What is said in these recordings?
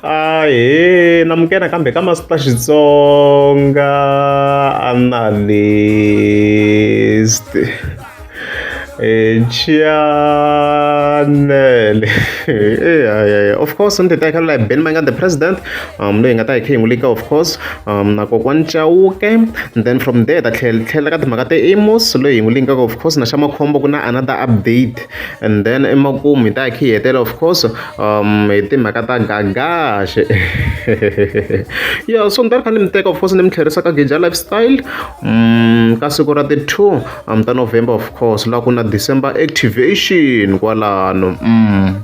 ahee namukena kambe ka masiku ta xitsonga analyst e chanele eya of course ni titekela laha ben manga the president um leyi nga ta hi khe hi n'wi lika of course um na kokwani chauke and then from there ta tlhela tlhela ka timhaka ta amos leyi hi n'wi linkaka of course na xa makhombo ku na another update and then emakumu hi ta hi khe hi hetela of course um hi timhaka ta gagaxe ya so ni ta ri kha ni mi teka of course ni mi tlherisa ka geja lifestyle um ka siku ra ti-two um ta november of course laha ku na december activation kwalano um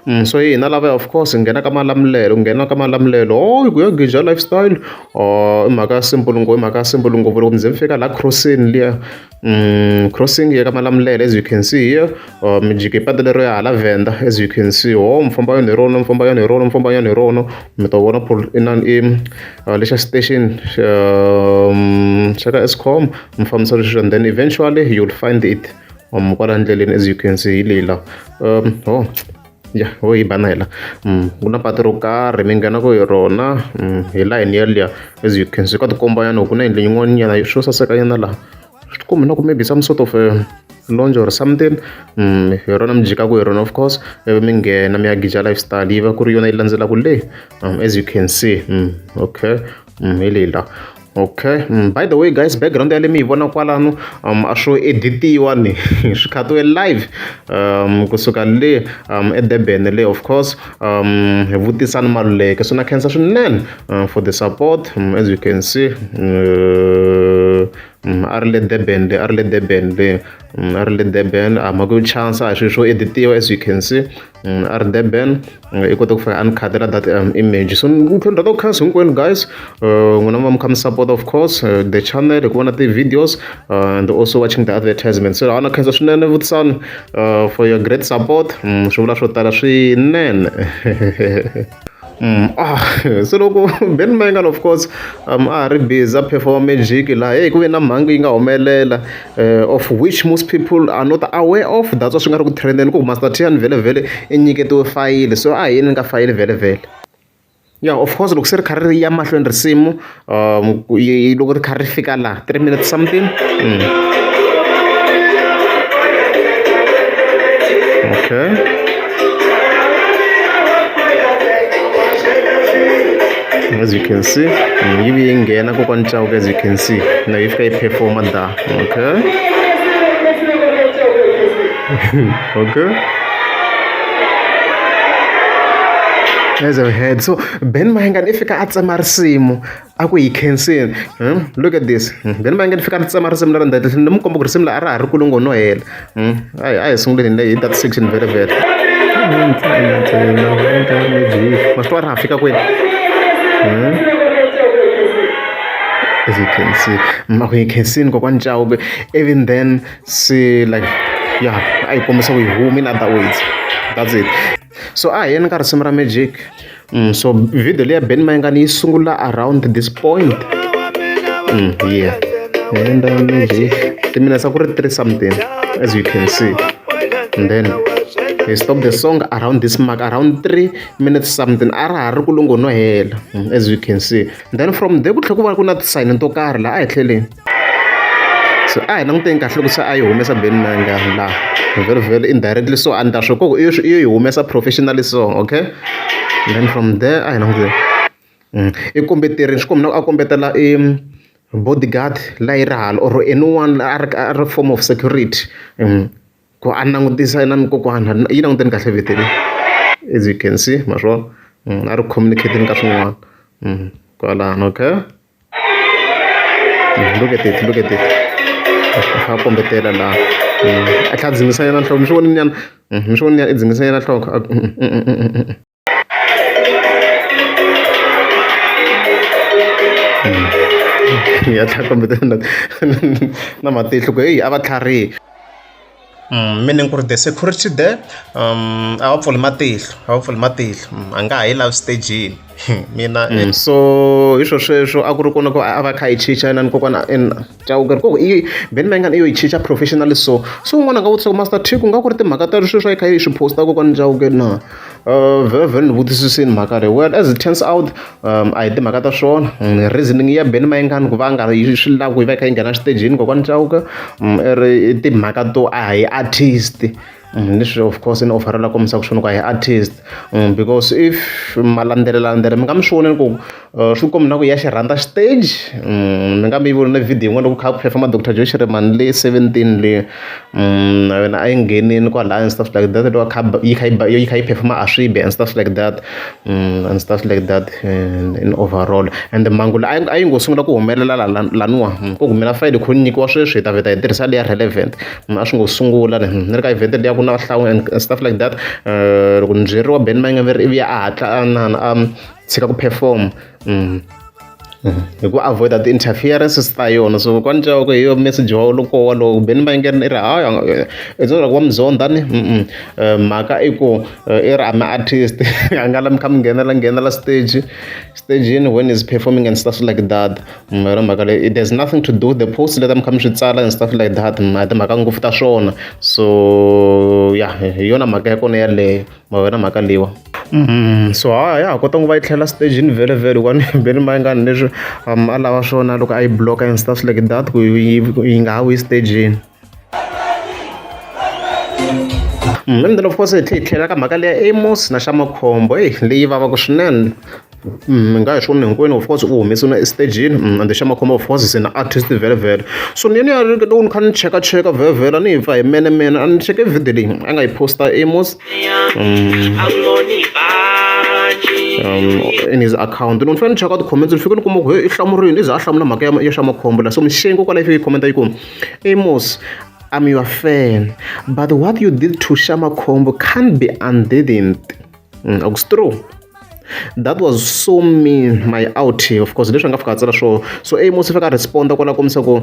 Mm, so hina lava of course nghena ka malamulelo nghena ka malamulelo o ku ya geja lifestyle o i mhaka ya simple ngopfu i mhaka ya simple ngopfu loko mi ze mi fika la crossini liya Mm, crossing ya ka malamulele as you can see here uh, mijiki patu lero ya hala venda as you can see ho oh, mfamba yona hi rona mfamba yona hi rona mfamba yona hi rona mi ta vona pol inan i uh, lexa station um, xa ka escom mi fambisa leswi and then eventually you'll find it um, kwala ndleleni as you can see hi leyi la um, oh. ya ho yimbana hela mm, ku na patu ro karhi mi nghenaka hi rona mm, hi layini yaliya as you can see ka tikomba yana ku na yindlu yin'wanyana swo saseka yana laha swi tikombi na ku maybe some sort of eh, longe or something mm, hi rona mi jikaku hi rona of course ivi mi nghena mi ya gija lifestyle yi va ku ri yona yi landzelaka le as you can see okay hi leyi laha okay mm, by the way guys background yale mi yi vona kwalano um a swo editiwa ni swi khatiwe live um kusuka le um edurban le of course um hi vutisa ni maluleke so na khensa swinene uh, for the support um, as you can see uh, um, a ri le durban le a ri le durban le um, a ri le durban a mhaka yo chansa a swi swo editiwa as you can see Mm, rdben eh, i kota ku fika a ni khadela that um, image so ni tlhela ni khansi hinkwenu guys eh, n'wina va mi kha mi support of course eh, the channel hi ku vona ti-videos and also watching the advertisement so ana khensa swinene vutisani for your great support mm, swi vula swo tala swinene Mm, ah, se loko ben mangal of course um, a ri busy a performa magic laha hey ku ve na mhangu yi nga humelela uh, of which most people are not aware of that's why swi nga ri ku trendeni ku master tian vhele vhele i nyiketiwe fayili so a hi yini ni ka fayili vhele vhele ya of course loko se ri kha ri ya mahlweni risimu yi loko ri kha ri fika la three minutes something okay as you can see yi vi yi nghena kokwani chauke as you can see na yi fika yi performa da okay okay as a head so Ben Mayengani i fika a tsema risimu a ku hi khensini hmm? look at this hmm? Ben Mayengani i fika a tsema risimu leri ndati ni mu komba ku risimu la a ra ha ri kulungo no hela hmm? a hi a hi sunguleni hi that section very very ma swi twa ra ha fika kwini as you can see ma ku hi khensini kokwani chawube even then si like ya a yi kombisa ku yi humi in other words that's it So a hi yeni ka risimu ra magic mm, so video leya ben mayingani yi sungula around this point mm, yeah enda magic timinetse ku ri three something as you can see and then he stopped the song around this mark around 3 minutes something a ra ha ri ku lungo no hela mm, as you can see then from there ku tlhe ku va ku na tisayini to karhi laha a hi tlheleni se a hi languteni kahle loko se a yi humesa Benny Mayengani laha vhele vhele indirectly so a ni ta swi ku i yo i yo yi humesa professionally so okay then from there a hi languteni i kombeterile swi komba ingaku a kombetela i bodyguard leyi ri hala or anyone la a ri a ri form of security ku a langutisa na ni kokwana yi languteni kahle vito leri as you can see ma swi vona a ri communicating ka swin'wana kwalano okay. look at it look at it a kombetela laha a tlhela a dzimisa yena nhloko mi swi vonile nyana mi swi vonile i dzimisa yena nhloko ya tlhela kombetela na matihlo ku heyi a va tlharihile. Meaning ku ri the security there a va pfuli matihlo a va pfuli matihlo a nga ha yi lavi stejini mina so hi swo sweswo a ku ri kona ku a va a kha a yi chicha inana kokwana ina Chauke ku i band ma ingaku i yo yi chicha professionally so se un'wana a nga vutisa ku Master Thik ku nga ku ri timhaka ta sweswi a yi kha a yi swi post-a kokwani Chauke na. vhele ni vutisisini mhaka leyi well as it turns out a hi timhaka ta swona reasoning ya Benny Mayengani ku va a nga ri yi swi lava ku yi va yi kha yi nghena xitejini kokwani Chauke i ri i timhaka to a hi artist ni swi of course ni ofara la kombisaka swona ku a hi artist because if ma landzelelandzela mi nga mi swi vonela ku. swi ku mi na ku ya xi rhandza xiteji ni nga mi yi vonile video yin'wana loko kha ku perform-a doctor Joe Shirimani seventeen le na yena a yi nghenini kwalaya and stuff like that loko a kha a ba yi kha yi ba yi kha yi perform-a a swi bi and stuff like that and stuff like that in overall and mhangu leyi a yi a yi ngo sungula ku humelela la la laniwa ku humela Friday kho ni nyikiwa sweswi hi ta vheta hi tirhisa leya relevant a swi ngo sungula ni ni ri ka event leya ku na hlangana and stuff like that loko ni byeriwa Ben Mayengani ivi a hatla a na na a tshika ku perform mm. Mm. hi ku avoida ti-interferences ta yona so kwani ca ku hi yo message wa loko walowo kumbeni va yingerini i ri hayi i tsona loko va mi zonda ni eh, mhaka i ku eh, i ri a mi artist a nga la mi kha mi nghenela nghenela stage stageni when is performing and stuff like that mm, yona mhaka leyi there's nothing to do the post leta mi kha mi swi tsala and stuff like that mm, a timhaka ngopfu ta swona so ya hi yona mhaka ya kona yaleyo ma wena mhaka leyiwa Mm, so ha ya ha kota ku va yi tlhela stagini vhele vhele kwani beni ma yi nga ni leswi um, a lava swona loko a yi bloka and stuff like that ku yi yi nga ha wi stagini Mm, and then of course hi tlhe hi tlhela ka mhaka leya amos na xa makhombo eyi leyi vavaka swinene mi nga hi swi vona hinkwenu of course u humese na esitejini mm, and xa makhombo of course se na artist vhelavhela so ni yena ya ri loko ni kha ni cheka cheka vhelavhela ni hi pfa hi mene mene a ni cheke video leyi a nga yi posta amos mm. um, in his account ni fanele ni cheka ti-comments ni fike ni kuma ku he i hlamurini i za a hlamula mhaka ya xa makhombo la so mixengi ko kwalayi fike yi khomenta yi ku amos i'm your fan but what you did to shamakhombo can't be undidn't mm, akustrue that was so mean my out of course leswi nga fika a tsala swo so amos fika responda kwala komisa ku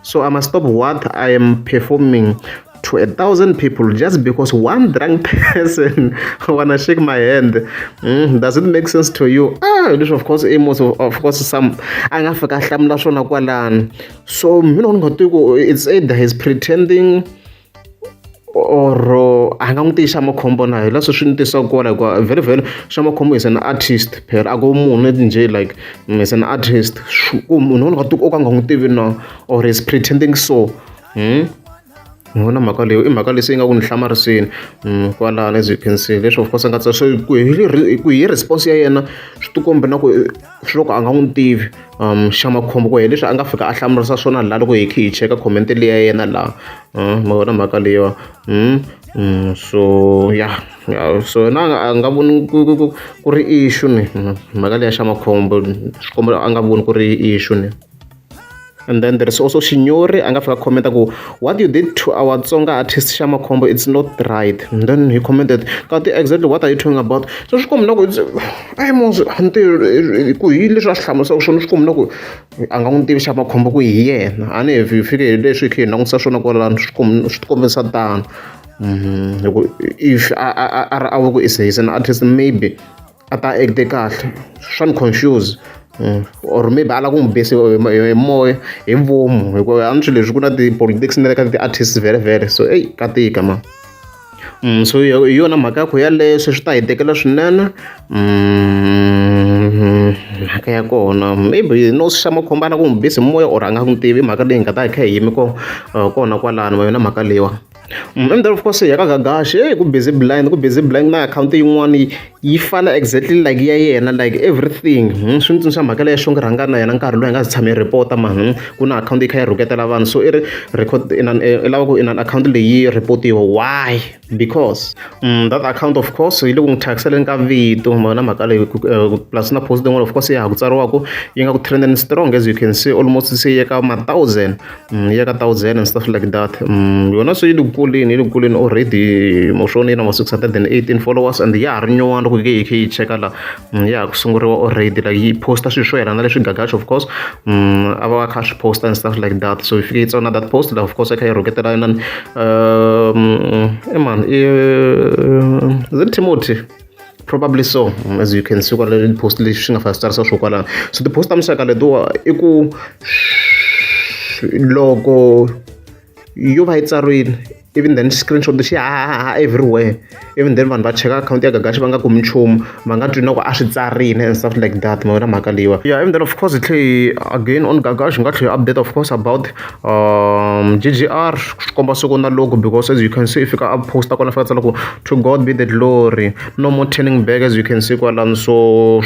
so i must stop what i am performing to a thousand people just because one drunk person wanna shake my hand mm, does it make sense to you ah this of course amos of, of course some a nga fika hlamula swona kwalani so mina ni nga twi ku it's either he's pretending or a nga n'wi tivi xa makhombo na hi leswi swi ni tisaka kona hikuva vhele vhele xa makhombo is an artist phela a ko munhu njhe like mm, is an artist ku munhu wona ka o ka nga n'wi tivi na or is pretending so hmm? ni vona mhaka leyo i mhaka lesi yi nga ku ni hlamarisini mm, kwalano as you can see leswi of course a nga ku hi response ya yena swi tikombe na ku swo ka a nga n'wi tivi um xa makhombo ku ye leswi a nga fika a hlamurisa swona laha loko hi khe hi cheka comment leyi ya yena laha um ma vona mhaka leyiwa um um so ya so na a nga voni ku ri issue ni mhaka leyi ya xa makhombo swikombo a nga voni ku ri issue ni and then there is also shinyori a nga fika comment ku what you did to our tsonga artist xamakhombo it's not right and then he commented kati exactly what are you talking about so swi kombi na ku ai mos ntirho ku hi leswi a swi hlamusaka swona swi kombi na ku a nga n'wi tivi xamakhombo ku hi yena a ni hi fike hi leswi hi khe hi langutisa swona kwalano swi kombi swi tikombisa tano mhm. if a a a ri a ku is an artist maybe a ta act-e kahle swa ni confuse or maybe a lava ku n'wi base hi moya hi vomu hikuva a ni swi leswi ku na ti-politics na le ka ti-artist vhele so eyi ka tika mani so hi yona mhaka ya ku yaleyo se swi ta hi tekela swinene mhaka ya kona maybe no xa makhombo a lava ku n'wi base hi moya or a nga n'wi tivi mhaka leyi hi nga ta hi kha hi yime kona kwalano yona mhaka leyiwani. Mm, and then of course ya ka gagashi hey, ku busy blind ku busy blind na akhawunti yin'wana yi fana exactly like ya yena like everything hmm, swi ni tsundzuxa mhaka leya xongi rhanga na yena nkarhi loyi nga si tshame yi report-a ma hmm, ku na akhawunti yi kha yi rhuketela vanhu so i ri record i eh, lava ku i na akhawunti leyi report-iwa why because mm, that account of course yi le ku n'wi thyakiselen ka vito mona mhaka leyi eh, plus na post yin'wana of course ya ha ku tsariwaku yi nga ku trending strong as you can see almost se yeka ma thousand Mm, ya ka thousand and stuff like that mm, yona se yi le kuleni yi le kuleni already moshoni yi na ma six hundred and eighteen followers and ya ha ri nyuwana loko yi ke yi khe yi cheka la mm, ya ha ku sunguriwa already like yi posta swilo swo yelana leswi gagaxo of course a va va kha swi posta and stuff like that so yi fike yi tsona that post la of course yi kha yi rhuketela inani um, eman i zin timothy Probably so as you can see kwala post lexi xi nga fasi tsarisa swo kwalano so ti-post ta muxaka letiwa i ku loko yo va yi tsariwile even then screenshot xi hahaha everywhere even then vanhu va cheka akhawunti ya gagaxi va nga kumi nchumu va nga twi na ku a swi tsarile and stuff like that ma wena mhaka leyiwa yeah even then of course hi tlhe hi again on gagaxi hi nga tlhe hi update of course about um ggr swi komba siku na loko because as you can see i fika a posta kwala fika tsala ku To God be the glory. No more turning back as you can see kwalani so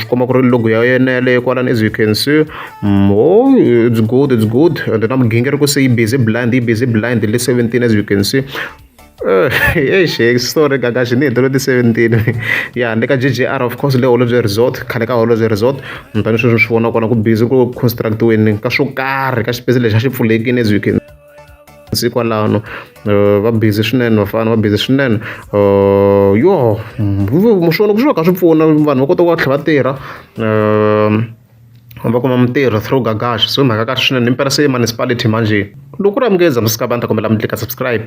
swi komba ku ri logo ya yena yaleyo kwalani as you can see mm, oh it's good it's good and na migingiriko se yi busy blind yi busy blind le 17 as you can see eish eh, story gaga xi ni hetelo ti-seventeen ya ni ka ggr of course le holobye resort khale ka holobye resort ni tani sweswi swi vona kona ku busy ku constructiweni ka swo karhi ka xipesi lexi a xi pfulekini as you can se kwalano eh, va busy swinene vafana va busy swinene eh, yo swona ku swi va ka swi pfuna vanhu va kota ku va tlhela va tirha eh, va kuma mintirho through gagash so mhaka kahle swinene impela se municipality manje loko ku ri amukeza msikabani ta kombela mi tlika subscribe